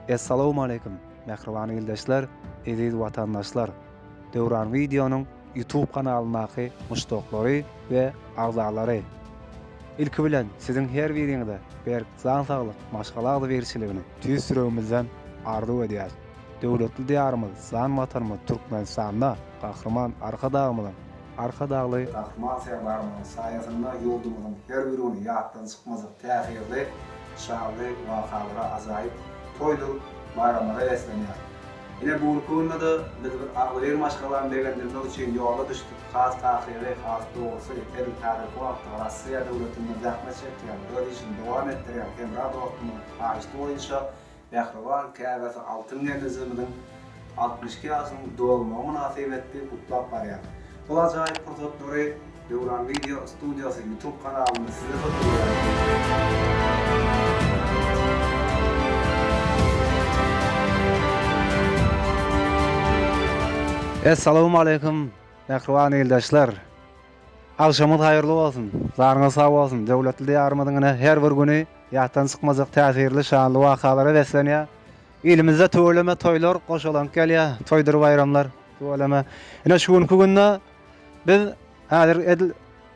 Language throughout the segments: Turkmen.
Essalawmaleýkim, mähriban ildeşler, eziz watandaşlar! Döwran Wideonyň YouTube kanalyndaky muşdaklary we agzalary! Ilki bilen, siziň her biriňize berk Jan saglyk, maşgala agzybirçiligini tüýs ýüregimizden arzuw edýäris. Döwletli Diýarymyz, jan Watanymyz Türkmenistanda Gahryman Arkadagymyzyň, Arkadagly Gahryman Serdarymyzyň saýasynda ýurdumyzyň her bir güni ýatdan çykmajak täsirli, şanly wakalara, ajaýyp toýdur baýramlara beslenýär. Ine, bu günki günde-de biz bir agzybir maşgalany begendirmek üçin ýola düşdük. Has takygy, has dogrusy, heniz häzirki wagtda Russiýa döwletinde zähmet çekýän, öz işini dowam etdirýän hemra dostumyzyň haýyşty boýunça mähriban käbäsi Altyn Gemrijigimiziň altmyş iki ýaşynyň dolmagy mynasybetli gutlap barýar. Bu ajaýyp pursatlary Döwran Video Studiosy YouTube kanalynda size hödür bereris. Essalawmaleýkum mähriban ildeşler! Agşamyňyz haýyrly bolsun, janyňyz sag bolsun, döwletli Diýarymyzyň ine her bir güni ýatdan çykmajak täsirli, şanly wakalara beslenýär. Ilimizde tüweleme toýlar goşalank gelýär, toýdur baýramlar tüweleme. Ine şu günki günde Biz häzir edil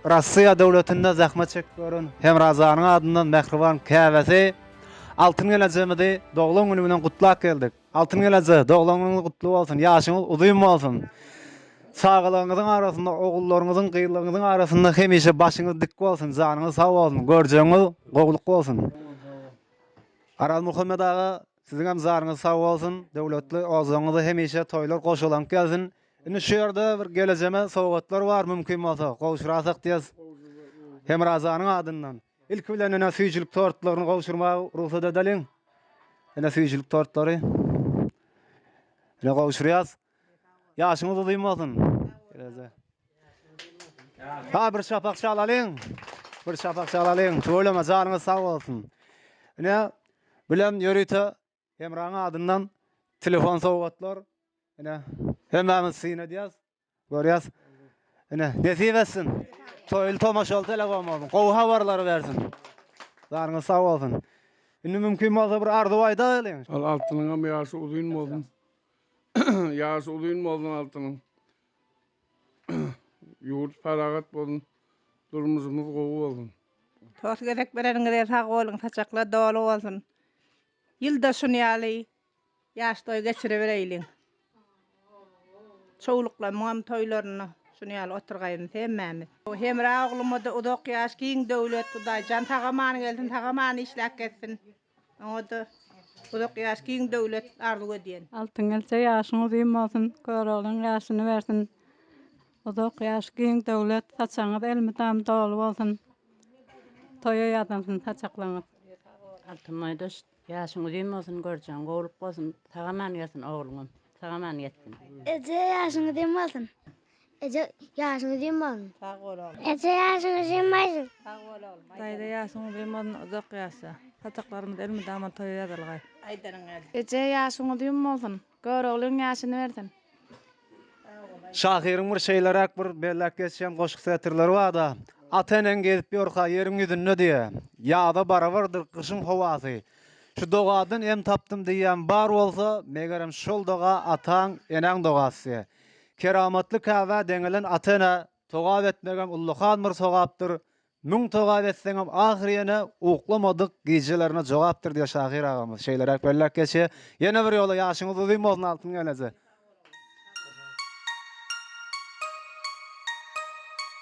Russiýa döwletinde zähmet çekip ýören Hemrazanyň adyndan mähriban käbesi Altyn gelejemizi doglan güni bilen gutlap geldik. Altyn geleje, doglan günüňiz gutly bolsun, ýaşyňyz uzyn bolsun. Çagalygyňyzyň arasynda, ogullaryňyzyň, gyzlaryňyzyň arasynda hemişe başyňyz dik bolsun, janyňyz sag bolsun, görjegiňiz gowluk bolsun. Arazmuhammet aga Siziňem jaryňyz sag bolsun, döwletli ozuňyzy hemişe toýlar goşalank gelsin. Indi şu ýerde bir gelejeme sowgatlar bar mümkin bolsa gowşurasak diýes Hemrajanyň adyndan. Ilki bilen ene süýjülik tortlaryny gowşurmaga rugsat edeliň. Ene süýjülik tortlary. Ene gowşurýas. Ýaşyňyz uzyn bolsun. Eleze. Ha bir şapak şalalyň. Bir şapak şalalyň. Tüweleme janyňyz sag bolsun. Ine bilen ýörite Hemraň adyndan telefon sowgatlar. Ine hemmämiz syn edýäs. Görýäs. Ine nesip etsin. Toýly tomaşaly telefon bolsun. Gowy habarlary bersin. Janyňyz sag bolsun. Indi mümkin bolsa bir arzuw aýdaýlyň. Al altynyňam ýaşy uzyn bolsun. Ýaşy uzyn bolsun Altynyň. Ýurt parahat bolsun. Durmuşymyz gowy bolsun. Sos gezek bereniňize sag boluň saçaklar doly bolsun. Ýylda şun ýaly ýaş toý geçiribereýliň. Çowluklamyňam toýlaryny şun ýaly oturgaýyns hemmämiz. Hemra oglumada uzak ýaş giň döwlet Hudaýjan sag aman gelsin sag aman işläp gezsin. Oňada uzak ýaş, giň döwlet arzuw edýän. Altyn gelje ýaşyň uzyn bolsun, Göroglyň ýaşyny bersin. Uzak ýaş, giň döwlet, saçagyňyz elmydam doly bolsun. Toýa ýazylsyn saçaklaryňyz. Altyn boýdaş ýaşyň uzyn bolsun, görjegiň gowulyk bolsun, sag-aman gelsin ogluňam, sag-aman ýetsin. Eje ýaşyň uzyn bolsun. Eje ýaşyň uzyn bolsun. Sag bol oglum. Eje ýaşyň uzyn bolsun. Sag bol oglum. Daýza ýaşyň uzyn bolsun uzak ýaşa. Saçaklarymyz elmydama toýa ýazylgaý. Aýdanyň gelsin. Eje ýaşyň uzyn bolsun. Göroglyň ýaşyny bersin. Sag bol aýdanyň. Şahyryň bir şeýleräk bir belläp geçýän goşgy setirleri barda, Ata eneň gezip ýörka ýeriň ýüzünde diýýä. Ýaza barabardyr gyşyň howasy. Şu dogadan em tapdym diýýän bar bolsa, megerem şol doga ataň, enäň dogasy diýýä. Keramatly Käbä deňelen ata-enä togap etmegem ullakan bir sogapdyr, müň togap etseňem ahyry ýene uklamadyk gijelerine jogapdyr diýýär şahyr agamyz. Şeýleräk belläp geçýär. Ýene bir ýola ýaşyňyz uzyn bolsun Altyn gelneje.